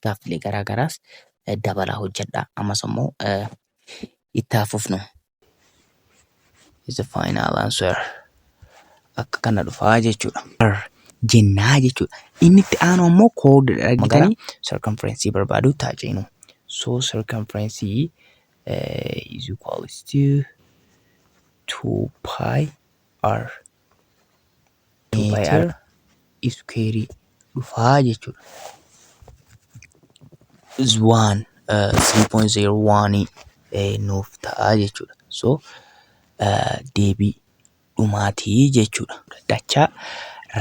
gaaffilee garaa garaas dabalaa hojjedhaa. Ammas immoo itti haa fufnu. is the final answer. Akka kana dhufaa jechuudha. jennaa jechuudha. Inni itti aanu ammoo kood argitanii circumference barbaaduu itti haa ceenu. So circumference is equals to 2 pi r meetir iskuweerii dhufaa jechuudha. is 1 3.01 eh, nuuf ta'a jechuudha. So eh, deebii dhumaatii jechuudha. Dachaa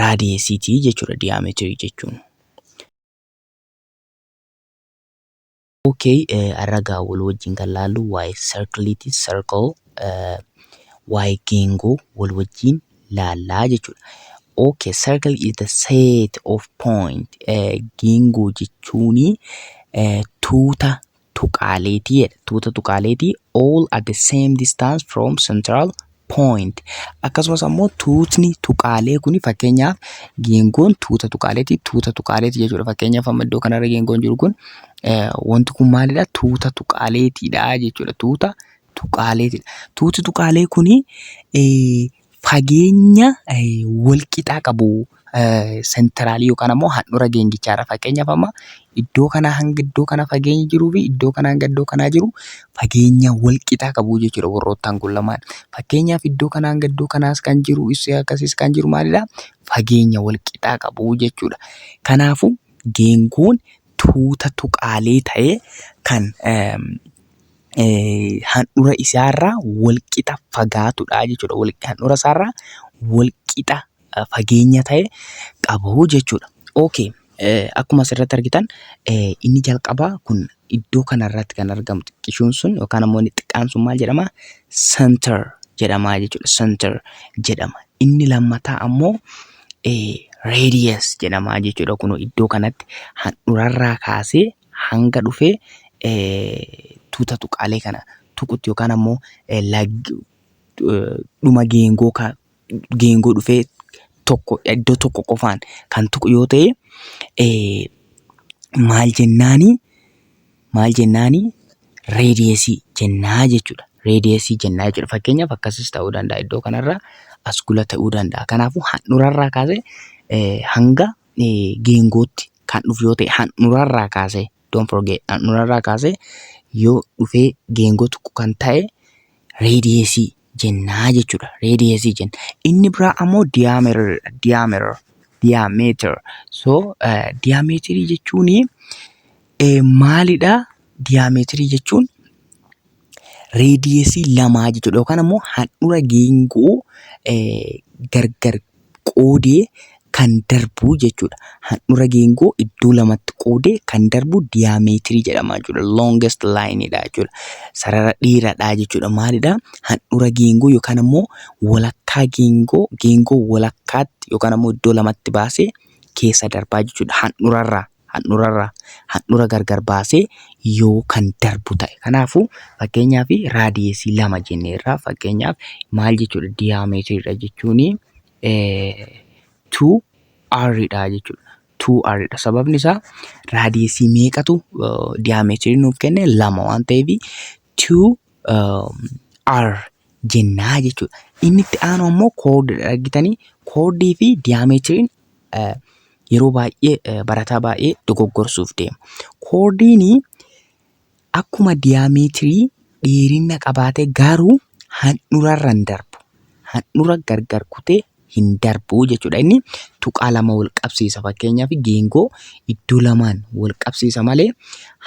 raadiyeesiitii jechuudha diyaameetirii jechuun. Ok har'a egaa wal wajjin kan laallu waa'ee circle ti circle waa'ee geengoo wal wajjin laallaa jechuudha. Ok circle is the set of point geengoo jechuun tuuta tuqaaleetii jedha tuuta tuqaaleetii all at the same distance from central point. Akkasumas ammoo tuutni tuqaalee kun fakkeenyaaf geengoon tuuta tuqaaleeti tuuta tuqaaleeti jechuudha. Fakkeenyaaf amma iddoo kanarra geengoon jiru kun wanti kun maalidha tuuta tuqaaleetiidha jechuudha. Tuuta tuqaaleetiidha. Tuuti tuqaalee kun fageenya walqixaa qabu senteraalii yookaan ammoo handhura geengichaa irra fakkeenyaaf amma iddoo kanaa hanga iddoo kana fageenyi jiruu fi iddoo kanaa hanga iddoo kanaa jiru fageenya wal qixaa qabu jechuudha warroottaan kun lamaan. Fakkeenyaaf iddoo kanaa hanga iddoo kanaas kan jiru issi akkasiis kan jiru maalidha fageenya wal qixaa qabu jechuudha. Kanaafuu geengoon tuuta tuqaalee ta'ee kan handhura isaarraa wal qixa fagaatudha jechuudha. Handhura isaarraa wal qixa fageenya ta'e qabu jechuudha. Okay. Akkuma asirratti argitan inni jalqabaa kun iddoo kanarratti kan argamu xiqqishuun sun yookaan ammoo inni xiqqaan sun maal jedhama? Center jedhama jechuudha. Center jedhama. Inni lammataa ammoo radius jedhama jechuudha. Kun iddoo kanatti handhurarraa kaasee hanga dhufee tuuta tuqaalee kana tuqutti yookaan ammoo dhuma geengoo geengoo dhufee tokko iddoo tokko qofaan kan tuqu yoo ta'e eh, maal jennaani maal jennaani reediyeesii jennaa jechuudha. Reediyeesii jennaa jechuudha. Fakkeenyaaf akkasis ta'uu danda'a iddoo kanarra as gula ta'uu danda'a. Kanaafuu handhurarraa kaasee eh, hanga eh, geengootti kan dhufu yoo ta'e handhurarraa kaasee don't forget handhurarraa kaasee yoo dhufee geengoo tuqu kan ta'e reediyeesii jennaa jechuudha. Radius jenna. Inni biraa ammoo diameter dha. Diameter. Diameter. So eh, diameter jechuun eh, maalidha? Diameter jechuun radius lamaa jechuudha. Yookaan ammoo handhura geengoo eh, gargar qoodee kan darbu jechuudha. Handhura geengoo iddoo lamatti qoodee kan darbu diyaameetirii jedhama jechuudha. Longest line dha jechuudha. Sarara dheeraadha jechuudha. Maalidha? Handhura geengoo yookaan ammoo walakkaa geengoo geengoo walakkaatti yookaan ammoo iddoo lamatti baasee keessa darbaa jechuudha. Handhurarraa. handhura irraa handhura gargar baasee yoo kan darbu ta'e. Kanaafuu fakkeenyaaf raadiyeesii lama jennee irraa fakkeenyaaf maal jechuudha diyaametiridha jechuun 2R dha jechuudha. 2R dha sababni isaa raadiyeesii meeqatu diyaametiri nuuf kenne lama waan ta'eef 2 R jennaa jechuudha. Inni itti aanu ammoo koodidha argitanii koodii fi diyaameetiriin yeroo baay'ee barataa baay'ee dogoggorsuuf deema. Koodiin akkuma diyaameetirii dheerina qabaatee garuu handhurarra hin darbu. Handhura gargar kutee hin darbu jechuudha. Inni tuqaa lama wal qabsiisa fakkeenyaaf geengoo iddoo lamaan wal qabsiisa malee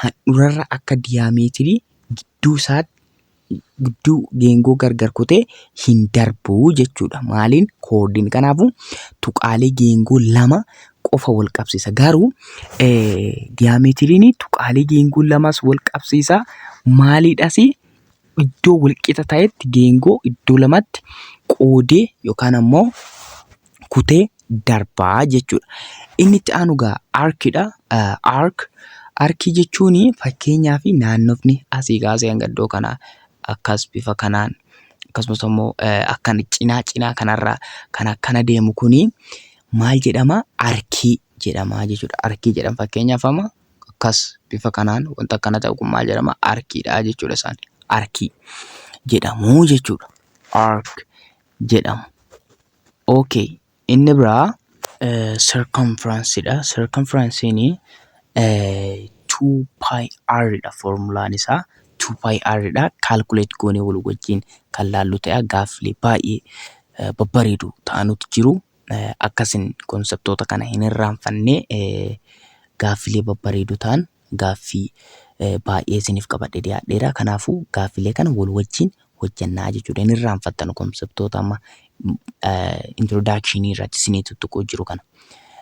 handhurarra akka diyaameetirii gidduu isaatti gidduu geengoo gargar kutee hin darbu jechuudha. Maaliin koodiin kanaafuu tuqaalee geengoo lama qofa wal qabsiisa. Garuu diyaameetiriin tuqaalee geengoo lamas wal qabsiisa. Maaliidhas iddoo walqixa ta'etti geengoo iddoo lamatti qoodee yookaan ammoo kutee darbaa jechuudha. Inni itti aanu gaa arkidha. Ark arkii jechuun fakkeenyaa fi naannofni asii kaasee hanga iddoo kanaa akkas bifa kanaan akkasumas immoo akkan cinaa cinaa kanarraa kan akkana deemu kuni maal jedhama arkii jedhama jechuudha. Arkii jedhama fakkeenyaaf amma akkas bifa kanaan wanta akkana ta'u kun maal jedhama arkiidha jechuudha isaan arkii jedhamu jechuudha. Ark jedhamu. ok inni biraa circumference dha circumference ni 2πr dha formulaan isaa 2πr dha calculate goonee wal wajjin kan laallu ta'a gaaffilee baay'ee eh, babbareedu ta'anutu jiru Eh, akkasin konseptoota kana hin irraanfannee eh, gaaffilee babbareedu ta'an gaaffii baay'ee isiniif qabadhe dhiyaadheera. Kanaafuu gaaffilee kana wal wajjin hojjannaa jechuudha. Hin irraanfattanu konseptoota amma introduction irratti isinii tuttuquu jiru kana.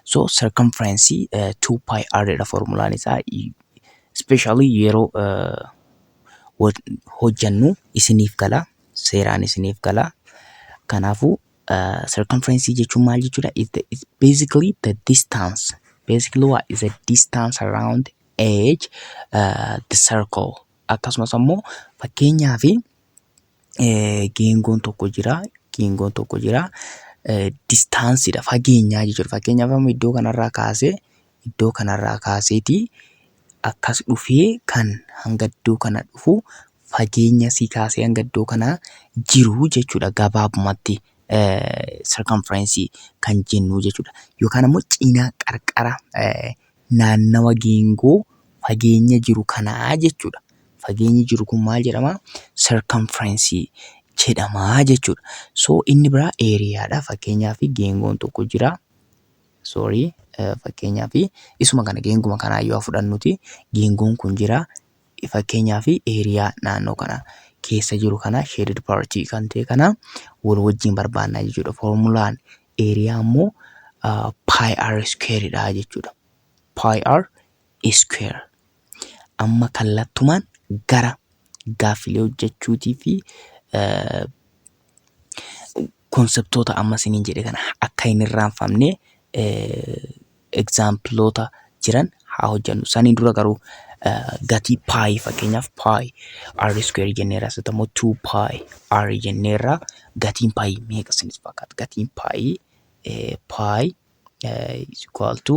So circumference 2 pi r dha formulaan isaa especially yeroo hojjannu isiniif gala seeraan isiniif gala. Kanaafuu Uh, circumference jechuun maal jechuudha? Is the is basically the distance. Basically what is the distance around edge uh, the circle. Akkasumas ammoo fakkeenyaa fi eh, geengoon tokko jira. Geengoon tokko jira. Eh, distaansidha fageenyaa jechuudha. Fakkeenyaaf amma iddoo kanarraa kaasee iddoo kanarraa kaaseeti akkas dhufee kan hanga iddoo kana dhufu fageenya asii kaasee hanga iddoo kanaa jiru jechuudha gabaabumatti circumference kan jennu jechuudha. Yookaan ammoo cina qarqara naannawa geengoo fageenya jiru kanaa jechuudha. Fageenyi jiru kun maal jedhama? Circumference jedhama jechuudha. So inni biraa eeriyaadha. Fakkeenyaaf geengoon tokko jira. Sorry fakkeenyaaf isuma kana geenguma kanaa yoo fudhannuti geengoon kun jira fakkeenyaaf area naannoo kana keessa jiru kana shaded part kan ta'e kana wal wajjin barbaannaa jechuudha formulaan area ammoo uh, pi r square dha jechuudha pi r square amma kallattumaan gara gaaffilee hojjechuutii fi uh, Konseptoota amma isiniin jedhe kana akka hin irraanfamne egzaampiloota jiran haa hojjannu. Saniin dura garuu gatii paayi fakkeenyaaf paayi r square jenneerra asitti ammoo 2 paayi r jenneerra gatiin paayi meeqa isinitti fakkaata? Gatiin paayi paayi is equal to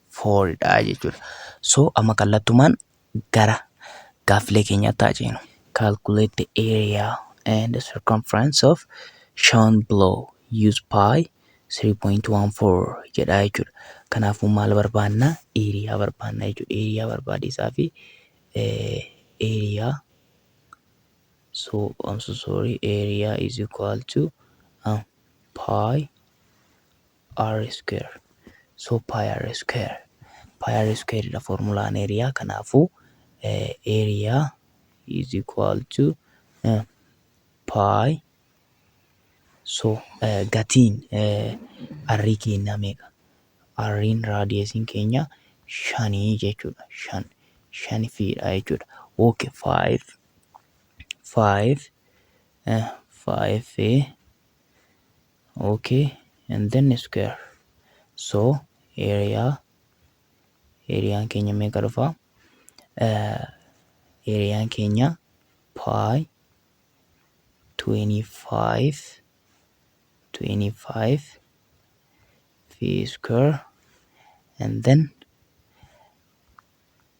four dha jechuudha. So amma kallattumaan gara gaaffilee keenyaatti haa ceenu. Calculate the area and the circumference of shown below. Use pi 3.14 jedha jechuudha. Kanaafuu maal barbaanna? Eeriyaa barbaanna jechuudha. Eeriyaa barbaadeessaa fi eeriyaa so I'm so sorry area is equal to uh, pi R square so pi r square pi r square dha formulaan area kanaafu area is equal to pi so gatiin r keenya meeqa r'n raadiyesiin keenya shanii jechuudha shan shan fiidha jechuudha ok 5 5 5 ok and then square so area eriyaan keenya meeqa dhufa eriyaan keenya pi 25 25 fi square and then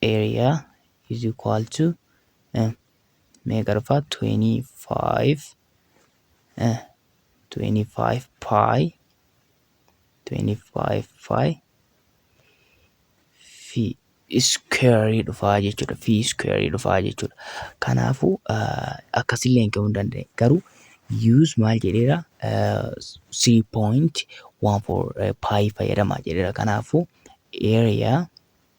area is equal to meeqa dhufa 25 25 pi 25 pi fi iskuweerii dhufaa jechuudha fi iskuweerii dhufaa jechuudha kanaafuu akkasillee hin ka'uu danda'e garuu use maal jedheera 3.14 pi fayyadama jedheera kanaafuu area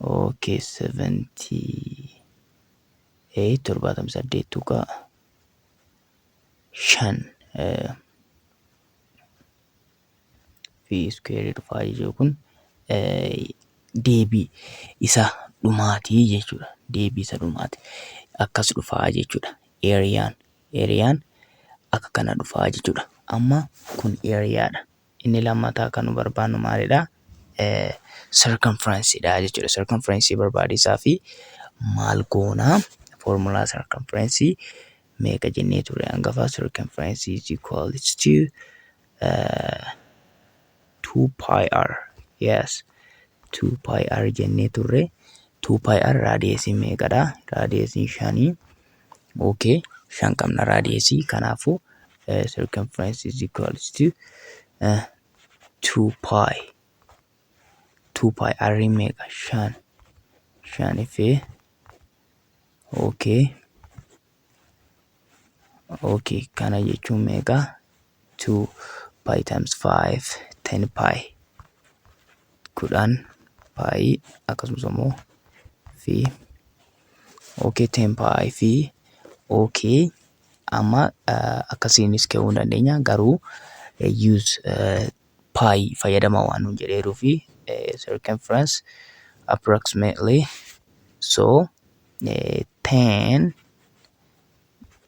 ok 78 78 tuqaa shan fi iskuweerii dhufaa jechuu kun deebii isa dhumaatii jechuudha deebii isa dhumaati akkas dhufaa jechuudha eeriyaan eeriyaan akka kana dhufaa jechuudha amma kun eeriyaadha Inni lammataa kan nu barbaannu maalidha? Circumference dha jechuudha. Circumference barbaadiisaa fi maal goona? Formula circumference meeqa jennee turre hangafa? Circumference is equals to uh, 2 pi r. Yes. 2 pi r jennee turre. 2 pi r raadiyeesiin meeqadha? Raadiyeesiin shanii. ok shan qabna radius kanaafu uh, circumference is equals to uh, 2 pi 2 pi r meeqa shan shan fi ok ok kana jechuun meeqa 2 pi times 5 10 pi kudhan pi akkasumas immoo fi ok 10 pi fi ok amma eh, akkasiinis ka'uu hin dandeenya garuu eh, use eh, pi fayyadama waan nuun jedheeruu fi eh, circumference approximately so eh, 10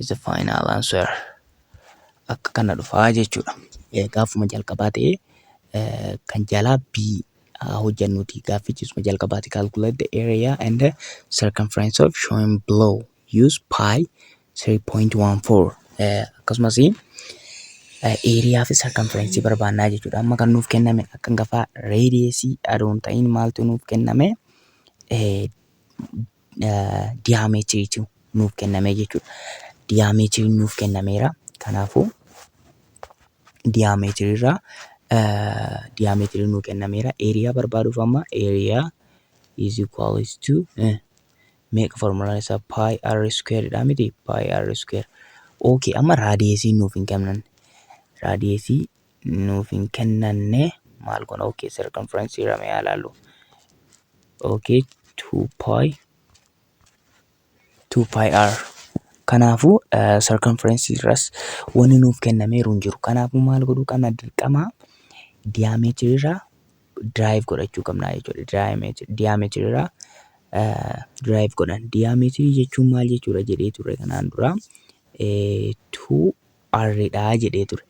is the final answer akka kana dhufaa jechuudha gaafuma jalqabaa ta'ee kan jalaa B hojjannuti gaaffichiisuma jalqabaati calculate the area and the circumference of shown below use pi 3.14 akkasumas eeriyaa fi sarkanferensii barbaannaa jechuudha amma kan nuuf kenname akka gafaa reediyeesii adoon ta'iin maaltu nuuf kenname diyaameetiriitu nuuf kenname jechuudha. Diyaameetiriin nuuf kennameera. Kanaafuu diyaameetiriirraa diyaameetiriin nuuf kennameera. Eeriyaa barbaaduuf amma eeriyaa is equals to meeqa formulaan isaa pi r square dha miti pi r square. Okay amma raadiyeesii nuuf hin kennan. Raadiyeesii nuuf hin kennanne maal goona ok circumference irra mee ilaallu ok 2 pi 2 pi r kanaafuu uh, circumference irras wanni nuuf kennameeru hin jiru kanaafuu maal godhuu qabna dirqama diameter irraa drive godhachuu qabna jechuudha diameter diameter irraa uh, drive godhan diameter jechuun maal jechuudha jedhee ture kanaan dura eh, 2 R dha jedhee ture.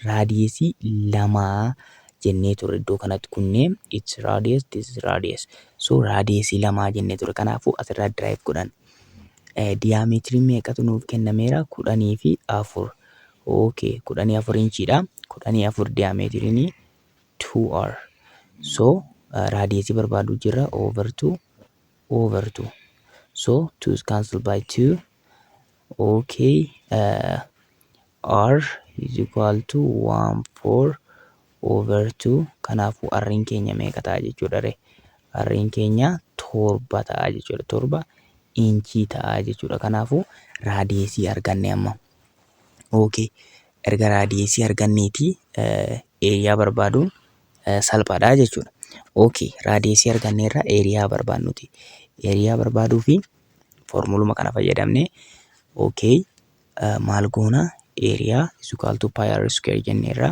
Raadiyesii lama jennee ture iddoo kanatti kunnee it's radius this is radius so raadiyesii lama jennee ture kanaafuu asirraa derive godhan diyaameetiriin meeqatu nuuf kennameera kudhanii fi afur okay kudhanii afur inchiidha kudhanii afur diyaameetiriin 2r so raadiyesii barbaaduu jirra over 2 over 2 so 2 is cancelled by 2 okay uh, r is equal to 1 4 over 2 kanaafuu r'n keenya meeqa ta'a jechuudha re r'n keenya torba ta'a jechuudha torba inchii ta'a jechuudha kanaafuu raadiyeesii arganne amma okay erga raadiyeesii arganneeti eeriyaa barbaaduun salphaadha jechuudha. OK raadiyeesii arganneerra eeriyaa barbaannuti. Eeriyaa barbaaduu fi foormuluma kana fayyadamnee OK maal goona eeriyaa is equal to pi r square jenneerra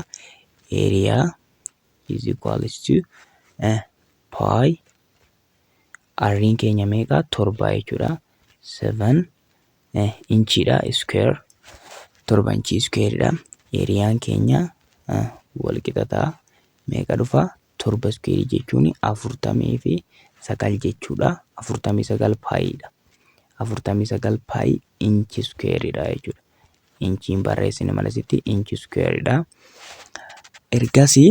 eeriyaa is equal to pi r'n keenya meeqa torba jechuudha. 7 eh, inchiidha square torba inchii iskuweeridha eeriyaan keenya eh, wal qixa ta'a meeqa dhufa torba iskuweerii jechuun afurtamii fi sagal jechuudha afurtamii sagal paayiidha afurtamii sagal paayii inchi iskuweeridha jechuudha inchiin barreessine malasitti inchi iskuweeridha ergasii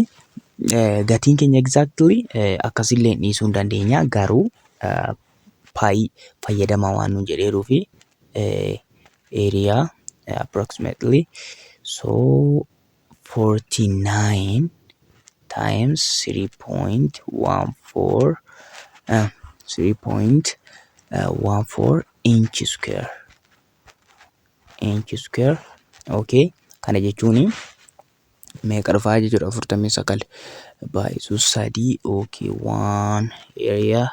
eh, gatiin keenya exactly eh, akkasillee dhiisuu hin dandeenya garuu eh, paayi fayyadamaa waan nuun jedheeruufi area approximately so 49 times 3.14 uh, 3.14 inch square inch square okay kana jechuun meeqa dhufaa jechuudha afurtamii sagal baay'isuu sadii okay waan area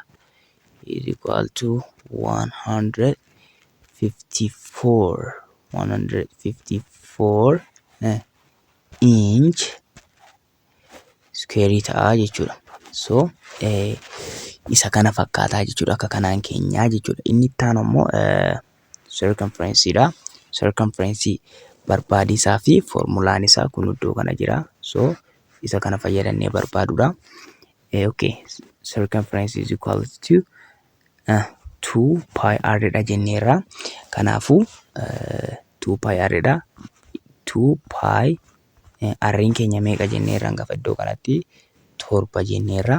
is equal to 154 154 eh, inch square ta'a jechuudha so eh, isa kana fakkaataa jechuudha akka kanaan keenyaa jechuudha inni itti aanu ammoo eh, circumference dha. Circumference barbaaduu isaa fi foormulaan isaa kun iddoo kana jira. So isa kana fayyadamnee barbaaduudha. Eh, okay. Circumference is equal to uh, 2 pi r dha jenneerra. Kanaafuu uh, 2 pi r dha. 2 pi R'n keenya meeqa jenneerra gafa iddoo kanatti torba jenneerra.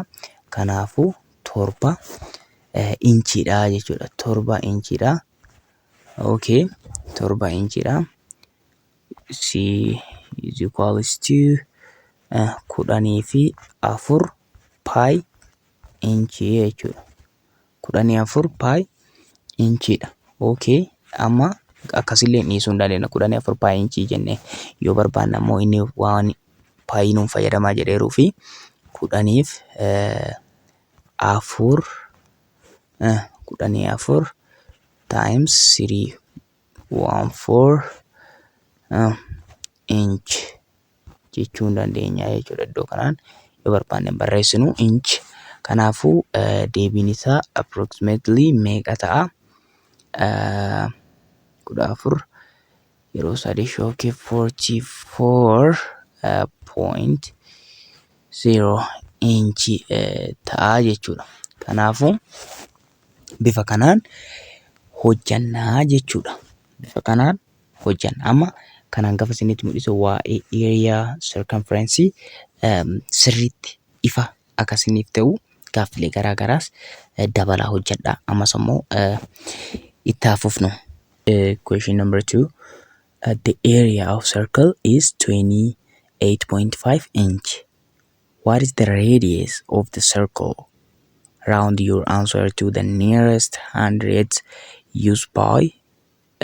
Kanaafuu torba inchiidha jechuudha. Torba inchiidha. Okay. Torba inchiidha. C is equals to kudhanii fi afur paayi inchii jechuudha. kudhanii afur paay inchiidha. Ok amma akkasillee dhiisuu hin dandeenya kudhanii afur paay inchii jennee yoo barbaanne ammoo inni waan paayii nuun fayyadamaa jedheeruu fi kudhaniif afur kudhanii afur times sirii waan foor inch. jechuun dandeenya jechuudha iddoo kanaan yoo barbaanne barreessinu inch kanaafuu deebiin isaa approximately meeqa ta'a kudha afur yeroo sadii shookii forty four point zero inch ta'a jechuudha kanaafuu bifa kanaan hojjannaa jechuudha bifa kanaan hojjanna. Amma kan hangafa isinitti mul'isu waa'ee area circumference sirriitti ifa akka isiniif ta'u gaaffilee garaa garaas dabalaa hojjedha. Ammas ammoo itti haa fufnu. Question number two. The area of circle is 28.5 inch. What is the radius of the circle? Round your answer to the nearest hundreds used by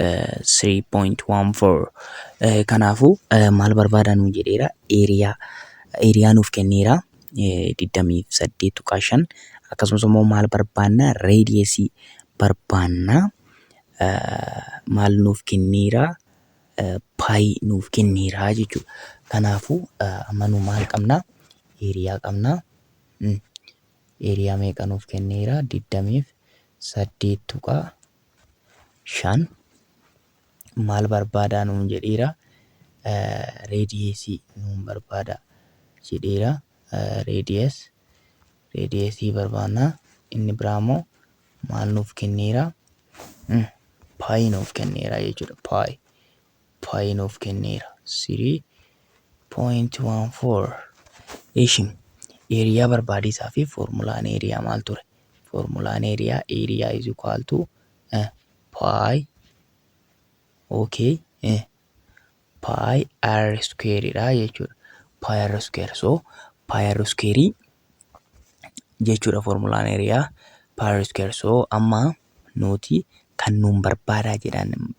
3.14 kanaafuu maal barbaada nuun jedheera eeriyaa eeriyaa nuuf kenneera 28.5 akkasumas immoo maal barbaanna reediyeesii barbaanna maal nuuf kenneera paayii nuuf kenneera jechuudha kanaafuu amma nu maal qabna eeriyaa qabna eeriyaa meeqa nuuf kenneera 28.5 shan maal barbaadaa nuun jedheera reediyeesii nuun barbaada jedheera reediyees reediyeesii barbaanna inni biraa immoo maal nuuf kenneera paayi nuuf kenneera jechuudha paayi pi nuuf kenneera 3.14 ishi eeriyaa barbaadiisaa fi foormulaan eeriyaa maal ture foormulaan eeriyaa eeriyaa is equal to eh, pi ok eh, pi r square dha jechuudha pi r square so pi r square jechuudha foormulaan eeriyaa pi r square so amma nuti kan nuun barbaadaa jedhan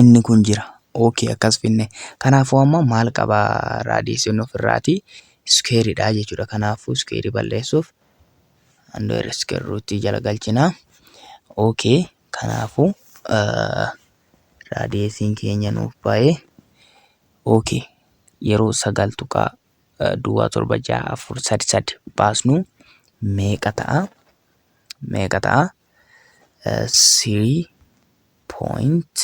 inni kun jira ok akkas finne kanaafuu amma maal qaba raadiyeesiin ofirraati iskeeridha jechuudha kanaafuu iskeerii balleessuuf andoor iskeerruutti jala galchina ok kanaafuu raadiyeesiin keenya nuuf baay'ee ok yeroo sagal tuqaa duwwaa torba ja'a afur sadi sadi baasnu meeqa ta'a meeqa ta'a sirii pooyint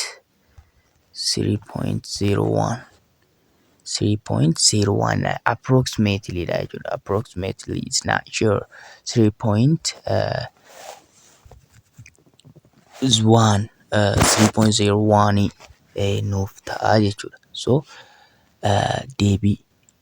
sirii pooyint zeeroo waan sirii pooyint zeeroo waan approximately dha jechuudha approximately is not sure sirii pooyint waan sirii pooyint zeeroo waanii nuuf ta'a jechuudha so deebii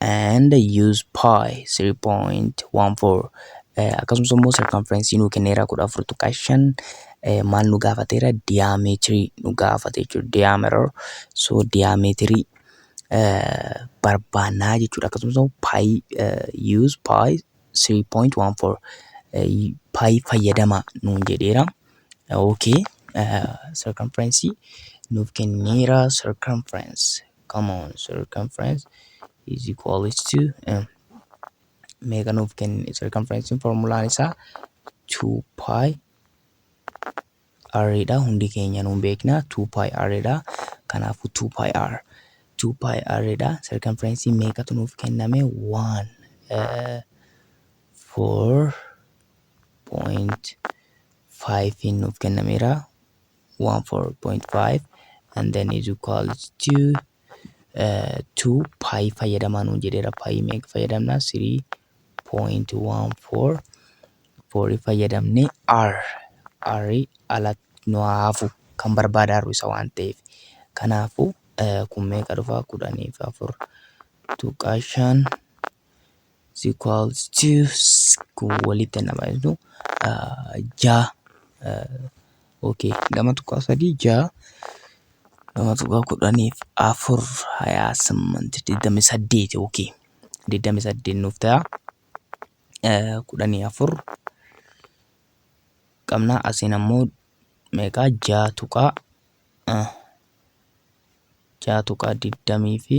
and use pi 3.14 eh, akkasumas immoo circumference nuu kenneera 14.5 eh, maal nu gaafateera diameter nu gaafate jechuudha diameter so diameter eh, barbaannaa jechuudha akkasumas immoo pi eh, use pi 3.14 eh, pi fayyadama nuun jedheera okay eh, circumference nuuf kenneera circumference come on circumference is equal to m meeqa nuuf kenni circumference formulaan isaa 2 pi r dha hundi keenya nuun beekna 2 pi r dha kanaafuu 2 pi r 2 pi r dha circumference meeqatu nuuf kenname 1 4.5 nuuf kennameera 1 4.5 and then is equals to uh, 2 pi fayyadamaa nuun jedheera pi meeqa fayyadamna 3.14 4 fayyadamne r r ala nu haafu kan barbaada arru isa waan ta'eef kanaafu uh, kun meeqa dhufa kudhaniif afur tuqaa shan is equals to s- kun walitti nama jedhu jaa okay lama tuqaa sadii jaa lama tuqaa kudhaniif afur hayaa simmanti digdami saddeet okay digdami saddeet nuuf ta'a Eh, kudhanii afur qabna asiin ammoo meeqaa jaa tuqaa eh, jaa tuqaa digdamii fi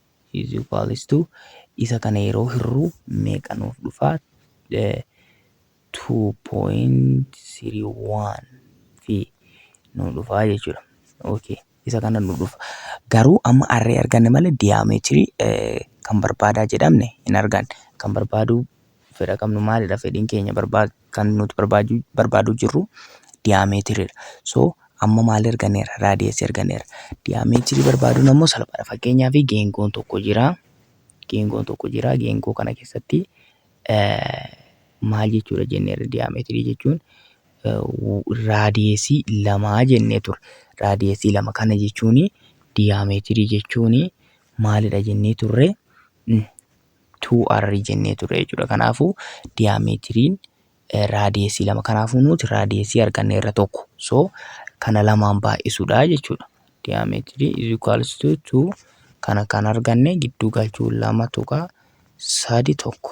is equals to isa kana yeroo hirru meeqa nuuf dhufa 2.31 fi nu dhufa jechuudha. Okay. Isa kana nu dhufa. Garuu amma arree arganne malee diyaameetirii kan barbaadaa jedhamne hin arganne. Kan barbaaduu fedha qabnu maalidha fedhiin keenya kan nuti barbaadu barbaadu jirru diyaametiridha. So amma maal erganeera? Raadiyas erganeera. Diyaametirii barbaaduun ammoo salphaadha. Fakkeenyaaf geengoon tokko jira. Geengoon tokko jira. Geengoo kana keessatti maal jechuudha jenneerra diyaametirii jechuun raadiyesii lamaa jennee ture. Raadiyesii lama kana jechuun diyaametirii jechuun maalidha jennee turre? 2R jennee turre jechuudha. Kanaafuu diyaameetiriin raadiyeesii lama. Kanaafuu nuti raadiyeesii arganne irra tokko. So kana lamaan baay'isuudha jechuudha. Diyaameetirii is equals to 2 kana kan arganne gidduu galchuun lama tuqaa sadi tokko.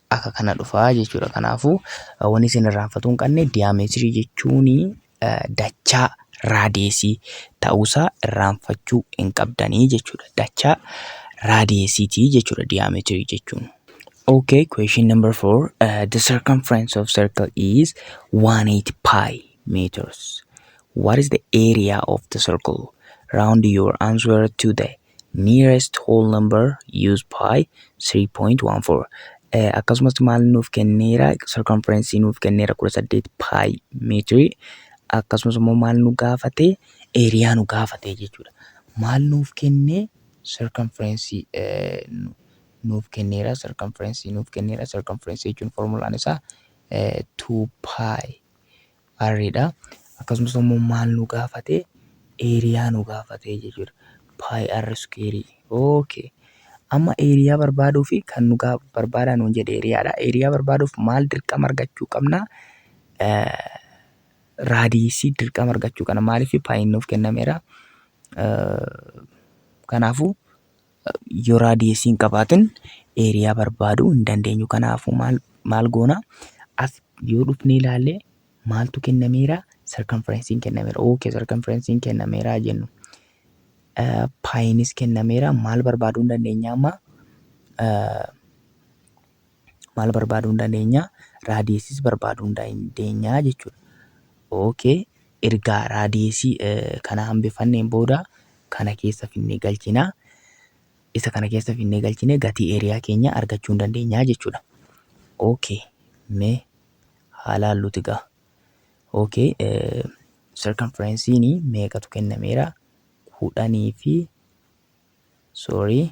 akka kana dhufa jechuudha. Kanaafuu wanni isin irraanfatuu hin qabne diyaameetirii jechuun dachaa raadeesii ta'uusaa irraanfachuu hin qabdanii jechuudha. Dachaa raadeesiitii jechuudha diyaameetirii jechuun. Okay, question number four. Uh, the circumference of circle is 180 pi meters. What is the area of the circle? Round your answer to the nearest whole number use pi 3.14 akkasumas maal nuuf kenneera circumference nuuf kenneera 18 pi meetirii akkasumas immoo maal nu gaafate eeriyaa nu gaafate jechuudha maal nuuf kennee circumference nuuf kenneera circumference nuuf kenneera circumference jechuun formulaan isaa 2 pi Array dha. Akkasumas immoo maal nu gaafate? Area nu gaafate jechuudha. Pi r square. Okay. Amma area barbaaduu fi kan nu gaa- barbaadaa nuun jedhe area dha. Area barbaaduuf maal dirqama argachuu qabna? Eh, raadiisii dirqama argachuu qabna. Maaliif paayiin nuuf kennameera. Eh, Kanaafuu yoo raadiyeesii hin qabaatin eeriyaa barbaaduu hin dandeenyu kanaafuu maal maal goona as yoo dhufnee ilaalle maaltu kennameera sarkanferensiin kennameera ookee sarkanferensiin kennameera jennu paayinis kennameera maal barbaaduu hin dandeenya amma maal barbaaduu hin dandeenya? Raadiyeesiis barbaaduu hin dandeenya jechuudha. Okay. Erga raadiyeesii eh, kana hambifanneen booda kana keessa finnee galchina. Isa kana keessa finnee galchine gatii eeriyaa keenya argachuu hin dandeenya jechuudha. Okay. Mee haa laalluuti gaa. Okay. Eh, circumference'iin meeqatu kennameera? Kudhanii fi sorry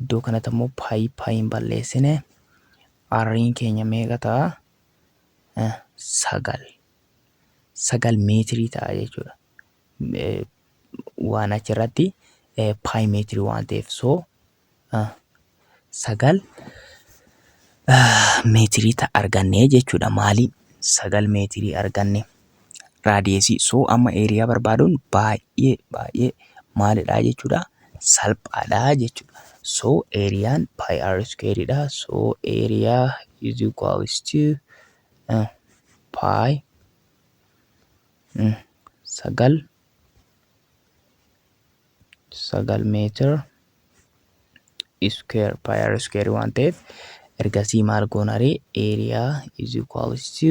Iddoo kanatti ammoo paayi paayiin balleessine arriin keenya meeqa ta'a? Sagal. Sagal meetirii ta'a jechuudha. Waan achirratti paayi meetirii waan ta'eef soo sagal meetirii ta'a arganne jechuudha. Maaliin sagal meetirii arganne? raadiyeesii soo amma eeriyaa barbaaduun baay'ee baay'ee maalidhaa jechuudha salphaadhaa jechuudha. So eeriyaan pi r square dha. So area is equals to uh, pi mm, sagal sagal meetir square pi r square waan ta'eef ergasii maal goonaree area is equals to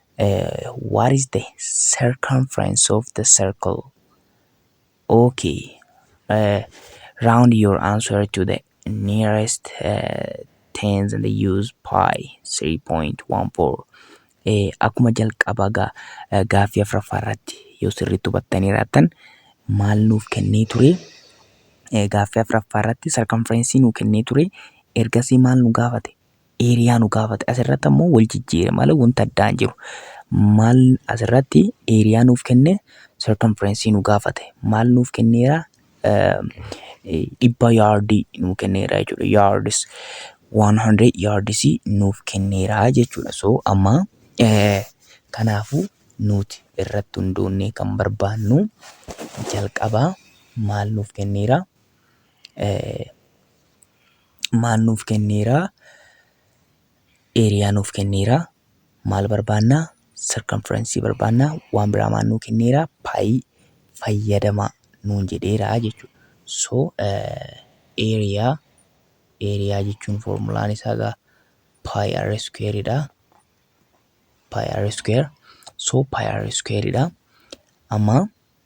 What is the circumference of the circle? Okay. Uh, round your answer to the nearest uh, tens and use pi 3.14. Eh, akkuma jalqaba ga, eh, gaaffii afraffaa irratti yoo sirriitti hubattanii raattan maal nuuf kennee ture eh, gaaffii afraffaa irratti sarkanfirensii nuu kennee ture ergasii maal nu gaafate eeriyaa nu gaafate. Asirratti ammoo wal jijjiire malee wanta addaa hin jiru. Maal asirratti eeriyaa nuuf kenne circumference nu gaafate. Maal nuuf kenneera? Dhibba yaardii nuuf kenneera jechuudha. Yaardis 100 yaardis nuuf kenneera jechuudha. So amma kanaafuu nuti irratti hundoonnee kan barbaannu jalqabaa maal nuuf kenneera? maal nuuf kenneera? Eeriyaa nuuf kenneera. Maal barbaanna? Sarkamfiraansii barbaanna. Waan biraa maal nuu kenneera? Paayii fayyadamaa nuun jedheera jechuudha. So eeriyaa eeriyaa jechuun foormulaan isaa egaa paayi r iskuweeridha. Paayi r iskuweer. So paayi r iskuweeridha. Amma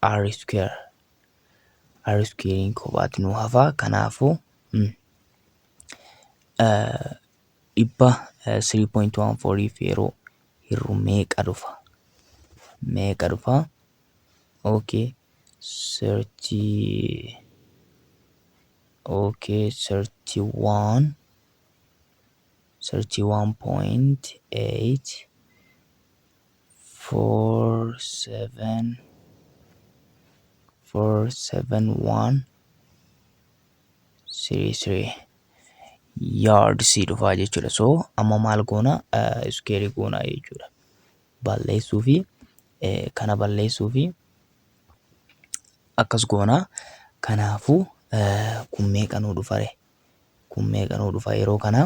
r square r squarein kophaatti nu hafa kanaafu dhibba 3.14 fi yeroo hirru meeqa dhufa meeqa dhufa okay thirty okay thirty one thirty one point eight four seven four seven one three three yards dhufaa jechuudha so amma maal goona iskeerii goonaa jechuudha balleessuu fi kana balleessuu fi akkas goona kanaafu kun meeqa nuu dhufare kun meeqa nuu dhufa yeroo kana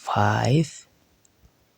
five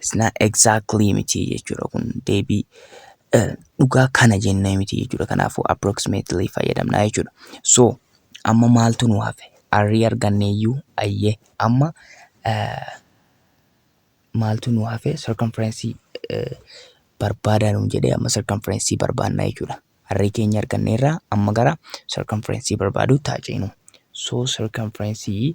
It's not exactly miti jechuudha kun deebii eh, dhugaa kana jennee miti jechuudha. Kanaafuu approximately fayyadamna jechuudha. So amma maaltu nu hafe? Arrii arganneeyyuu ayyee amma eh, maaltu nu hafe? Circumference eh, barbaadaa nuun jedhee amma circumference barbaadna jechuudha. Arrii keenya arganneerraa amma gara circumference barbaaduu taaceenu. So circumference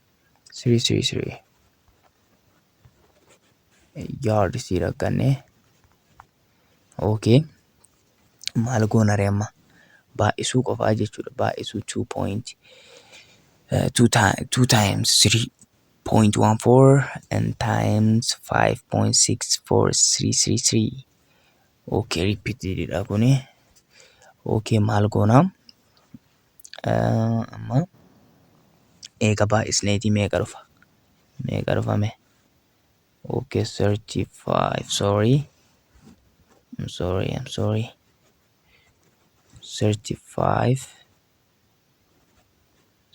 Siri siri siri. Yaad sii rakkanne. Okay. Maal goona ree amma? Baay'isuu qofaa jechuudha. Baay'isuu 2 point. Uh, two, ti- two times 3.14 and times 5.64333 okay repeatedidha kuni okay maal goona amma eega baay'isneetii meeqa dhufa meeqa dhufame okay 35 sorry I'm sorry I'm sorry 35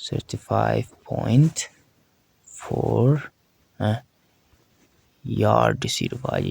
35.4 eh, yards dhufa jechuudha.